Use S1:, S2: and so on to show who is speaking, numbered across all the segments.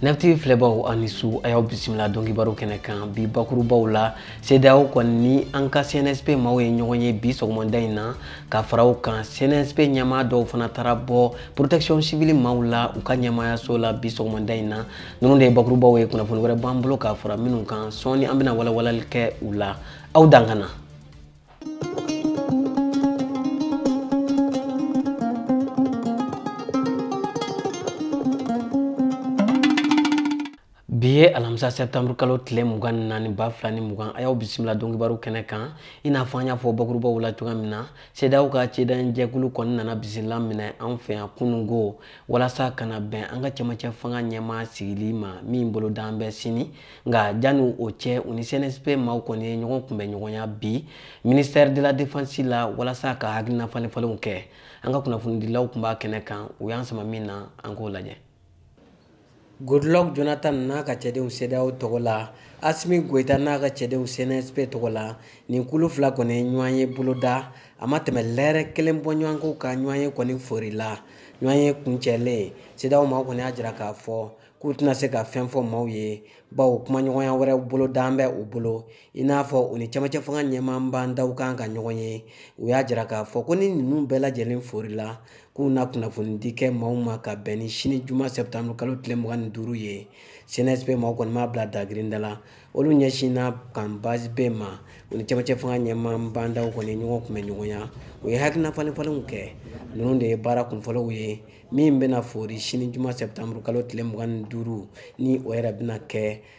S1: nafti filɛbaw a ni su a y'aw bisimila dɔnkibaro kɛnɛ kan bi bakurubaw la cedeao kɔni ni an ka cnsp maaw ye ɲɔgɔn ye bi sɔgɔmada in na ka fara o kan cnsp ɲɛmaa dɔw fana taara bɔ protection civile maaw la u ka ɲɛmaayaso la bi sɔgɔmada in na ninnu de ye bakurubaw ye kunnafoni wɛrɛ b'an bolo ka fara minnu kan sɔɔni an bɛna walawalali kɛ u la aw dan ka na bi ye alamisa sɛptanburu kalo tile mugan ni naani ba fila ni mugan a y'aw bisimila dɔnkibaru kɛnɛ kan i n'a fɔ an y'a fɔ bakurubaw la cogoya min na cedeao ka ciden jɛkulu kɔni nana bisimila minɛ an fɛ yan kunungo walasa ka na bɛn an ka cɛmancɛ fanga ɲɛmaa sigili ma min bolodan bɛ sini nka janni o cɛ u ni cnsp maaw kɔni ye ɲɔgɔn kunbɛn ɲɔgɔnya bi ministère de la défense la walasa ka hakilina falenfalenw kɛ an ka kunnafonidilaw tun b'a kɛnɛ kan u y'an sama min na an k'o lajɛ Goodluck Jonathan n'a ka cɛdenw CEDEAO tɔgɔ la, Assimi Goita n'a ka cɛdenw CNSP tɔgɔ la, nin kulu fila kɔni ye ɲɔgɔnye boloda, a ma tɛmɛ lɛrɛ kelen bɔɲɔgɔnko kan ɲɔgɔnye kɔni forila. Ɲɔgɔnye kuncɛlen, CEDEAO maaw kɔni y'a jira k'a fɔ k'u tɛna se ka fɛn fɔ maaw ye, bawo kumaɲɔgɔnya wɛrɛ bolodan bɛ u bolo. i n'a fɔ u ni camancɛ fanga ɲɛmaa bah n'daw kan ka ɲɔgɔn ye u y'a jira k'a fɔ ko ni ninnu bɛɛ lajɛlen forila k'u na kunnafonidi kɛ maaw ma ka bɛn ni sini juma sɛptanburu kalo tile mugan ni duuru ye cnsp maaw kɔni m'a bila dagirinda la olu ɲɛsinna kan base b ma u ni camancɛ fanga ɲɛmaa bah n'daw kɔni ɲɔgɔn kunbɛn ɲɔgɔnya u ye hakilina falenfalenw kɛ ninnu de ye baara kunfɔlɔw ye min bɛna fori sini juma sɛptanburu kalo tile mugan ni duuru ni o yɛrɛ bɛna kɛ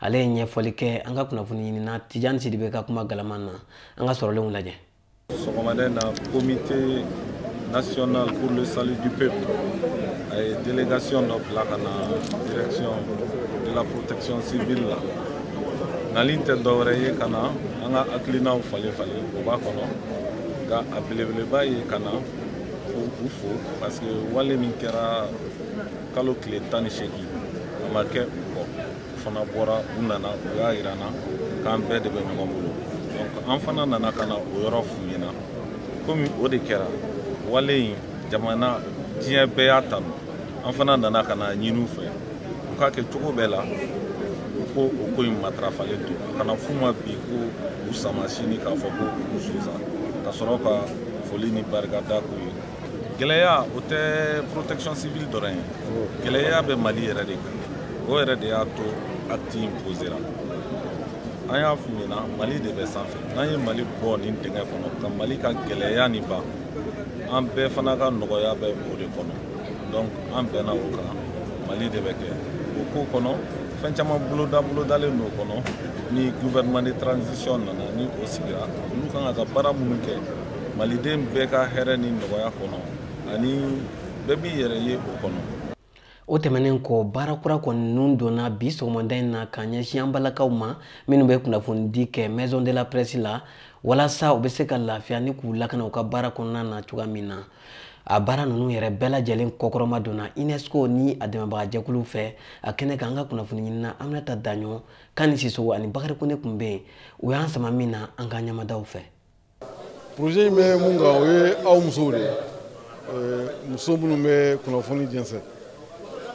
S1: ale ye ɲɛfɔli kɛ an ka kunnafoni ɲinina tijani sidibe ka kuma galaman na an ka sɔrɔlenw lajɛ sɔgɔmada in
S2: na comité national pour le salut du peuple a ye délégation dɔ bila ka na direction de la protection civile la nali tɛ dɔwɛrɛ ye ka na an ka hakilinaw falenfalen o b'a kɔnɔ nka a belebeleba ye ka na u fo parce que wale min kɛra kalo tile tan ni seegin a ma kɛ u kɔ u fana bɔra u nana u y'a yira an na k'an bɛɛ de bɛ ɲɔgɔn bolo donc an fana nana ka na o yɔrɔ f'u ɲɛ na komi o de kɛra wale in jamana diɲɛ bɛɛ y'a tanu an fana nana ka n'a ɲini u fɛ u k'a kɛ cogo bɛɛ la u k'o ko in matarafalen to a kana f'u ma bi ko u sama sini k'a fɔ ko u sonsan ka sɔrɔ ka foli ni barikada k'u ye gɛlɛya o tɛ protection civile dɔrɔn ye gɛlɛya bɛ mali yɛrɛ de kan o yɛrɛ de y'a to acte in posera an y'a f'u ɲɛna mali de bɛ sanfɛ n'an ye mali bɔ nin dingɛ kɔnɔ ka mali ka gɛlɛya nin ban an bɛɛ fana ka nɔgɔya bɛ o de kɔnɔ donc an bɛnna o kan mali de bɛ kɛ o ko kɔnɔ fɛn caman boloda bolodalen don kɔnɔ ni gouvernement de transition nana ni o sigira olu kan ka ka baara minnu kɛ maliden bɛɛ ka hɛrɛ ni nɔgɔya kɔnɔ ani bɛɛ b'i yɛrɛ ye o kɔnɔ o
S1: tɛmɛnen kɔ baara kura kɔni ninnu donna bi sɔgɔmada in na ka ɲɛsin an balakaw ma minnu bɛ kunnafonidi kɛ maison de la presse la walasa u bɛ se ka lafiya ni k'u lakana u ka baara kɔnɔna na cogoya min na a baara ninnu yɛrɛ bɛɛ lajɛlen kɔkɔrɔmadonna unesco ni a dɛmɛbagajɛkuluw fɛ a kɛnɛ kan an ka kunnafoni ɲinina aminata daɲɔ kani sisogo ani bakari kone tun bɛ yen u y'an sama min na an ka ɲɛmada o fɛ
S3: projet in bɛ mun kan o ye aw musow de ye muso minnu bɛ kunnafoni jɛnsɛn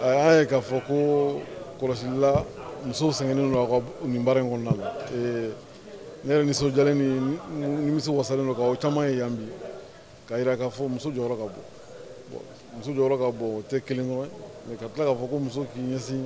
S3: an y'a ye k'a fɔ ko kɔlɔsili la musow sɛgɛnnen don a ka nin baara in kɔnɔna la ne yɛrɛ nisɔndiyalen ni nimisiwasalen don k'aw caman ye yan bi k'a jira k'a fɔ muso jɔyɔrɔ ka bon muso jɔyɔrɔ ka bon o tɛ kelen dɔrɔn mais ka tila k'a fɔ ko muso k'i ɲɛsin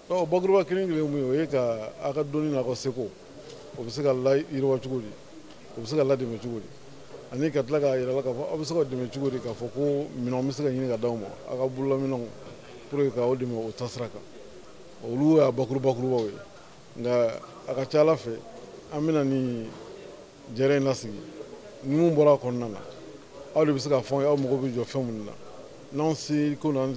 S3: ɔ bakuruba kelen kelen mun ye o ye ka a ka dɔnni n'a ka seko o bɛ se ka layiriwa cogo di o bɛ se ka ladɛmɛ cogo di ani ka tila k'a yira la k'a fɔ aw bɛ se ka dɛmɛ cogo di k'a fɔ ko minɛnw bɛ se ka ɲini ka d'aw ma aw ka bololaminɛnw pour que k'aw dɛmɛ o taasira kan olu y'a bakurubakurubaw ye nka a ka ca ala fɛ an bɛna ni jɛrɛ in lasigi ni mun bɔra a kɔnɔna na aw de bɛ se k'a fɔ aw mago bɛ jɔ fɛn minnu na n'anw seko n'an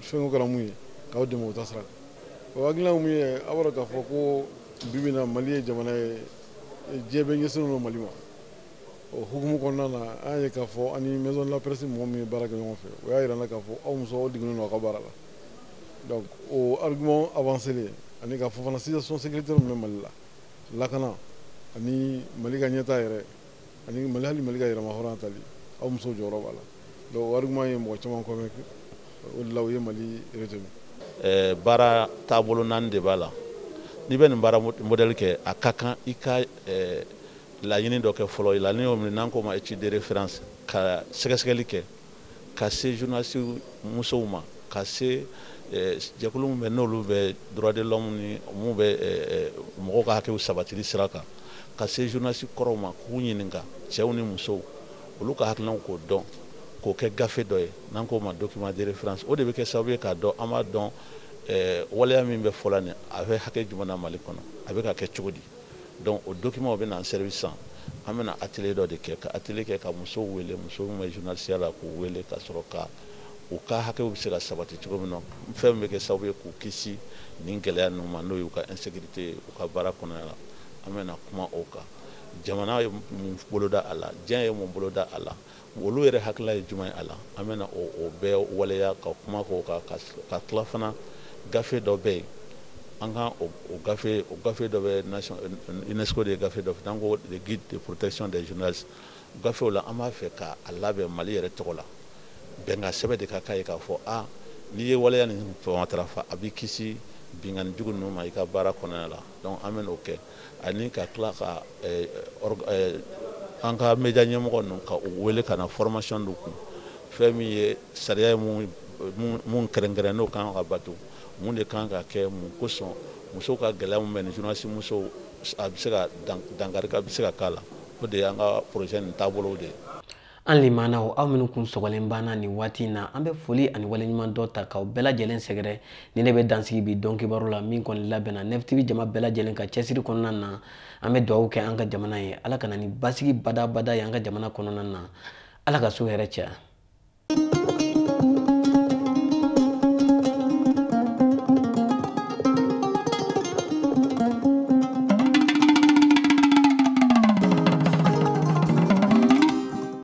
S3: fɛn kɛra mun ye k'aw dɛmɛ o taasira kan o hakilina mun ye aw b'a dɔn k'a fɔ ko bi bi in na mali ye jamana ye diɲɛ bɛɛ ɲɛsinnen don mali ma o hukumu kɔnɔna na an y'a ye k'a fɔ ani maison de la presse mɔgɔ min ye baara kɛ ɲɔgɔn fɛ o y'a yira an na k'a fɔ aw musow aw digilen don aw ka baara la donc o argument avancé ani k'a fɔ fana situation sécuritaire min bɛ mali la lakana ani mali ka ɲɛtaa yɛrɛ ani mali hali mali ka yɛrɛmahɔrɔnya tali aw muso jɔyɔrɔ b'a la donc o argument ye mɔgɔ caman convaincu o de la u ye mali retenu eh,
S4: baara taabolo naani de b'a la n'i bɛ nin baara modɛli kɛ a ka kan i ka eh, laɲini dɔ kɛ fɔlɔ laɲini o min ye n'an k'o ma étude de référence ka sɛgɛsɛgɛli kɛ ka se journaliste musow ma ka se eh, jɛkulu min bɛ n'olu bɛ droit de l'homme ni min bɛ eh, eh, mɔgɔw ka hakɛw sabatili sira kan ka se journaliste kɔrɔw ma k'u ɲininka cɛw ni musow olu ka hakilinaw k'o dɔn k'o kɛ gafe dɔ ye n'an k'o ma document de référence o de bɛ kɛ sababu ye k'a dɔn an b'a dɔn waleya min bɛ fɔla nin a bɛ hakɛ jumɛn na mali kɔnɔ a bɛ ka kɛ cogo di donc o document o bɛna an servir sisan an bɛna atelier dɔ de kɛ ka atelier kɛ ka musow wele muso min bɛ journalisiya la k'u wele ka sɔrɔ ka u ka hakɛw bɛ se ka sabati cogo min na fɛn min bɛ kɛ sababu ye k'u kisi nin gɛlɛya ninnu ma n'o y'u ka insécurité ye u ka baara kɔnɔna la an bɛna kuma o kan jamana ye mun boloda a la diɲɛ ye mun boloda a la olu yɛrɛ hakilila ye jumɛn ye a la an bɛna o bɛɛ waleya ka kuma k'o kan ka tila fana gafe dɔ bɛ yen an ka o gafe o gafe dɔ bɛ UNESCO de ye gafe dɔ dilan ko le guide de protection des journalistes gafe o la an b'a fɛ ka a labɛn Mali yɛrɛ tɔgɔ la bɛnkan sɛbɛn de ka k'a ye k'a fɔ a n'i ye waleya nin matarafa a b'i kisi binkanni jugu ninnu ma i ka baara kɔnɔna la donc an bɛna o kɛ ani ka tila ka eh, eh, an ka media ɲɛmɔgɔ ninnu ka u wele ka na formation dɔ kun fɛn min ye sariya ye mun kɛrɛnkɛrɛn n'o kan ka bato mun de kan ka kɛ mun kosɔn musow ka gɛlɛya min bɛ nin journaliste musow a bɛ se ka dankari ka bɛ se ka k'a la o de y'an ka projet nin taabolow de ye An
S1: limanaw aw minnu kun sɔgɔlen b'an na nin waati in na an bɛ foli ani waleɲumandɔn ta k'aw bɛɛ lajɛlen sɛgɛrɛ ni ne bɛ dansigi bi don kibaru la min kɔni labɛnna NEF TV jama bɛɛ lajɛlen ka cɛsiri kɔnɔna na an bɛ dugawu kɛ an ka jamana ye ala ka na ni basigi badabada ye an ka jamana kɔnɔna na ala ka so hɛrɛ caya